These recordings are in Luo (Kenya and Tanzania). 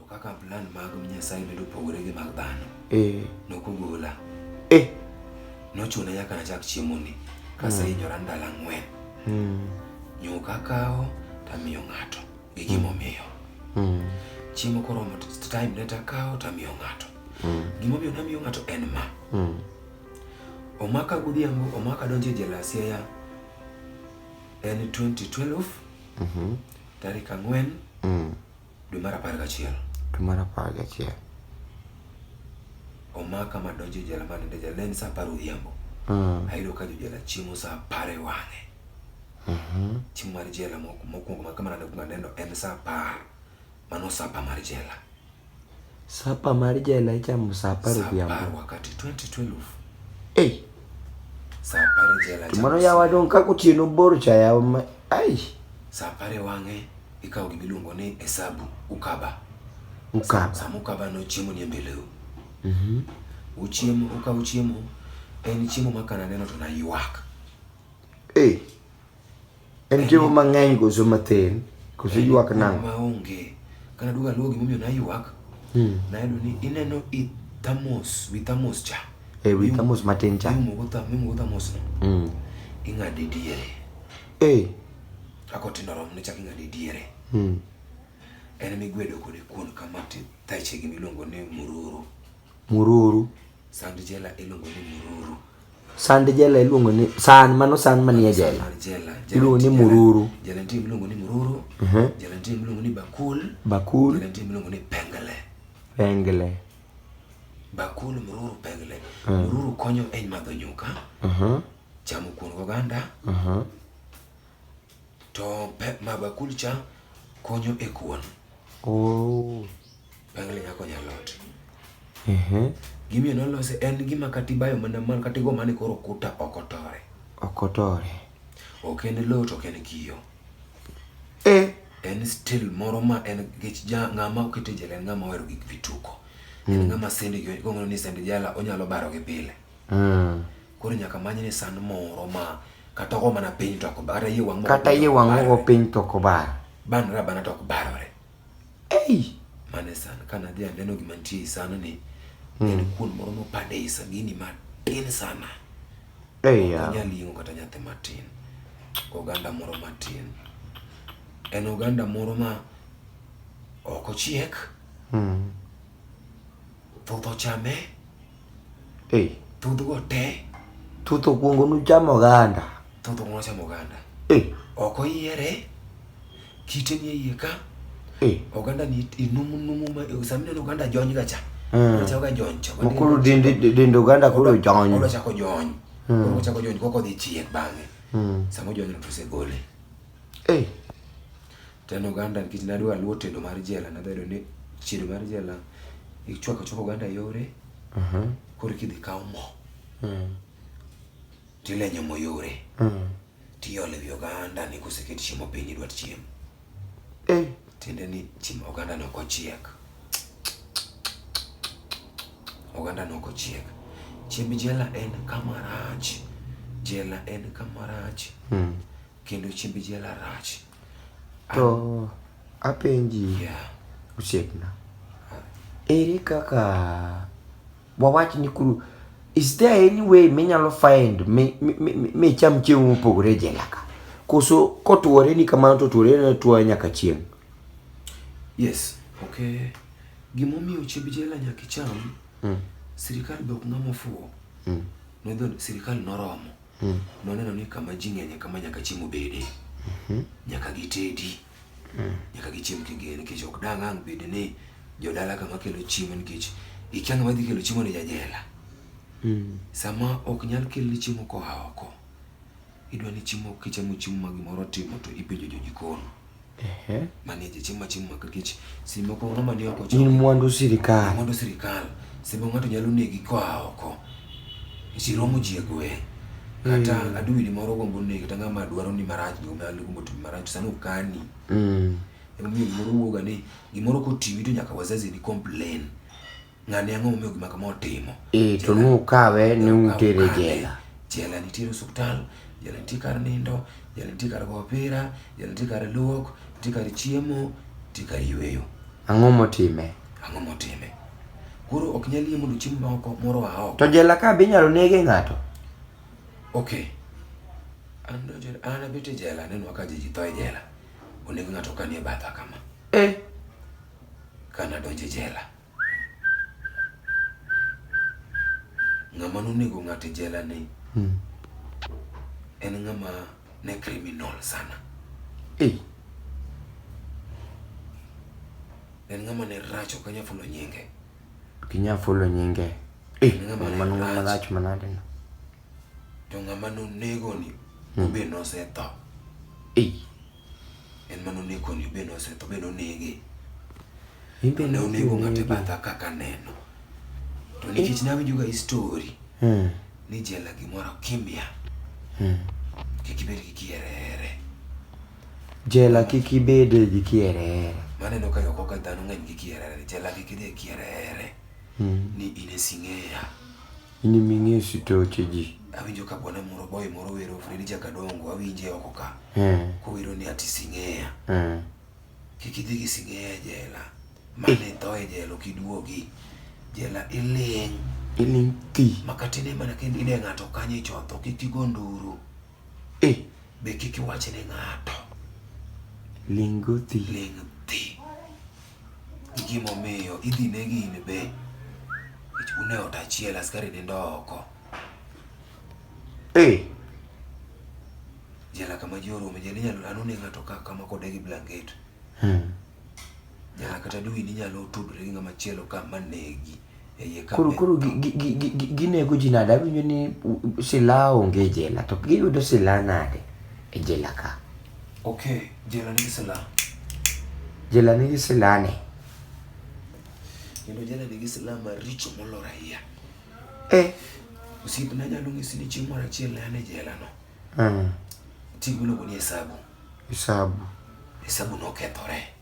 To kaka plan mag Nyasaye medo pogore gi mag dhano, eh. nokugola. Eh. Nochuna nyaka nachak chiemoni kasehinyora hmm. ndalo ang'wen. Hmm. Nyuka kawo tamiyo ng'ato gi gimomiyo. Hmm. Chiemo koromo time ne takawo tamiyo ng'ato. Gimomiyo namiyo ng'ato en ma. Omaka godhiambo, omaka donjo e jela Siaya en 2012 mm -hmm. tarik ang'wen mm. Dwe mar apar gachiel. Dwe mar apar gachiel. Omaka ma donjo e jela ma nindo e jela ne en saa apar odhiambo. Mm. Ayudo ka jojela chiemo saa apar e wang'e. Mhm. Chiemo mar jela mok- mokwongo ma kama nade kuma neno en saa apar. Mano sapa mar jela. Sapa mar jela ichamo saa apar odhiambo. Saa apar wakati 2012. Hey. Saa apar jela ichamo. Mano yawa dong ka kotieno bor cha yawa ma ai. Saa apar e wang'e ikawo gima iluongo ni hesabu ukaba. Ukaba. Sama ukaba no chiemo ni e mbeleu. Mhm. Mm uchiemo ukawo chiemo en chiemo ma kana neno to naywak. Eh. Hey. En chiemo mang'eny koso mathin koso ywak nang'o? Maonge. Kana duogo aluwo gimomiyo naywak. Hmm. Nayudo ni ineno i thamos, wi thamos cha. E wi thamos matin cha. Iumo go thamos, iumo go thamos no. Hmm. Ing'ade diere. Eh. Kaka otindo rom ne chak ing'ade diere. Hmm. En migwedo kode kuon kama ti thachegi miluongo ni mururu. Mururu. Sand jela iluongo ni mururu. Sand jela iluongo ni san mano san manie jela. Iluongo ni mururu. Jela nitie miluongo ni mururu. Mhm. Jela nitie miluongo ni bakul. Bakul. Jela nitie miluongo ni pengele. Pengele. Bakul mururu pengele. Mhm. Mururu konyo e madho nyuka. Mhm. Chamo kuon oganda. To pep ma bakul cha konyo e kuon. Oh. Bangle nya konyo a lot. Ehe. Gimiyo nolose en gima kata ibayo mana man kata igo mane koro kuta ok otore. Ok otore. Ok en lowo to ok en kiyo. Eh. En still moro ma en gech ja ng'ama okete jela en ng'ama ohero gik vituko. Mm. En ng'ama sende gi gong'o ni sende jala onyalo baro gi pile. Mm. Koro nyaka many ni sand moro ma kata ogo mana piny to ok kata yie wang' kata yie wang' ogo piny to ok bar. Banra bana to ok barore. Ei! Mane san kana dhi aneno gima nitie e san ni hmm. en kuon moro mopande e sagini matin sana. Ei ya. Onyal ying'o kata nyathi matin. Oganda moro matin. En oganda moro ma ok ochiek. Hmm. Thoth ochame. Hey. Thuth go te. Thuth okuongo nuchamo oganda. Thuth okuongo nuchamo oganda. Hey. Ok oyiere. Kite ni iye ka. Hey. Oganda ni inumu numu ma sami neno oganda jony ga cha. Mm. Cha ga jony cha. Mokoro dende dende oganda koro jony. Koro chako jony. Mm. Koro chako jony koko dhi chiek bang'e. Mm. Samo jony to se gole. Hey. To en oganda nikech ne adwa luwo tedo mar jela, ne adwa yudo ni tedo mar jela ichwako achwaka oganda yore koro eka idhi ikaw mo to ilenyo mo yore to iolo ewi oganda ni koseket chiemo piny idwa chiemo. Tiende ni oganda ne ok ochiek. Oganda ne ok ochiek. Chiemb jela en kama rach. Jela en kama rach kendo chiemb jela rach. To apenji yeah. osiepna ere kaka wawach ni kuru is there any way minyalo find micham chiemo mopogore e jela ka koso kotuore ni kamano to tuore ne tuo nyaka chieng yes okay gimomiyo chiemb jela nyaka icham mm. sirikal be ok ng'ama ofuwo mm. nodho sirikal noromo mm. noneno ni kama ji ng'enye kama nyaka chiemo bede mm-hmm. nyaka gitedi mm. nyaka gichiem kigere nikech ok dang' ang' bed ni jodala kama kelo chiemo nikech ikia ng'ama dhi kelo chiemo ni jajela mm. sama ok nyal kelni chiemo koa oko idwa ni chiemo kichamo chiemo ma gimoro timo to ipenjo jojikon Ehe. Manager chieng' ma chieng' maka nikech seche moko ng'ama ni oko In mwandu sirikal. mwandu sirikal seche moko ng'ato nyalo negi koa oko nikech iromo ji e gweng' kata Mm. adui ni moro gombo negi kata ng'ama dwaro ni marach ni onyalo gombo timi marach to sani okani Mm. emomiyo gimoro wuoga ni gimoro kotimi to nyaka wazazi ni complain Ng'ani ang'o momiyo gima kama otimo? Eh, to ne ukawe ne utere jela. Jela nitie osiptal, jela nitie kar nindo, jela nitie kar go opira, jela nitie kar luok, nitie kar chiemo, nitie kar yueyo. Ang'o motime? Ang'o motime? Koro ok nyal yie mondo chiemo maoko moro aoko. To jela ka be inyalo nege ng'ato? Okay. An donjo an abete jela nenwa ka ji tho e jela. Oneg ng'ato kanie batha kama. Eh. Kana donjo e jela. ng'ama nonego ng'ato e jela ni hmm. en ng'ama ne criminal sana hey. en ng'ama ne rach ok anyal fulo nyinge ok inyal fulo nyinge eh, mano ng'ama rach manade no to ng'ama nonego ni hmm. obe nosetho ei En mane oneko ni be nosetho be nonege. Imbe ne onego ng'ate batha kaka neno. To nikech ne awinjo ga story hmm. ni jela gimoro kimya. Hmm. Kik ibed gi kierere. Jela kik ibed gi kierere. Mane no ka yoko ka dhano ng'eny gi kierere. Jela kik idhi kierere. Hmm. Ni in e sing'eya. Inimi ng'e sitoche ji. Awinjo ka bwana moro boy moro wero Fredi Jakadongo awinje oko ka. Eh. Kowero ni ati sing'eya. Eh. Kik idhi gi sing'eya e jela. Mane tho e jela ok iduogi. Jela iling'. Iling' thi. Makatine mana kendo ine ng'ato kanyo ichotho kik igo nduru. Eh. Be kik iwach ne ng'ato. Ling' go thi. Ling' thi. gi gima omiyo idhi negi in be. Nikech un e ot achiel, askari nindo oko. Ee. Jela kama ji orome, jela inyalo an oneg ng'ato ka kama kode gi blanket. Jela kata dwe in inyalo tudri gi ng'ama chielo ka ma negi. koro koro ginego ji nade awinjo ni silaha onge e jela to giyudo silaha nade e jela ka ok jela nigi silaha jela nigi silaha ne kendo jela nigi silaha maricho molor ahiya eh osiepna nyalo ng'isi ni chieng' moro achiel ne an e jela no mm. tigi miluongo ni hesabu hesabu hesabu nokethore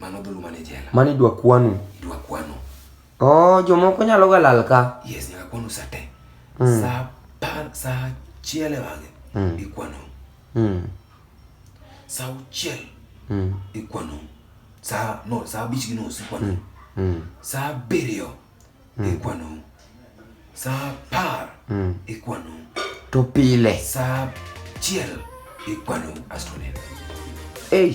Mano dhulu mane jela. Mani dwa kwanu. Dwa kwanu. Oh, jomoko nyalo ga lal ka. Yes, nyaka kwanu sa te. Mm. Sa par, sa chiel e wang'e. Mm. Ikwanu. Mm. Sa uchiel. Mm. Ikwanu. Sa, no, sa abich gi nus ikwanu. Mm. Mm. Sa abiriyo. mm. ikwano sa apar mm. ikwano to pile sa achiel ikwano asto neno hey.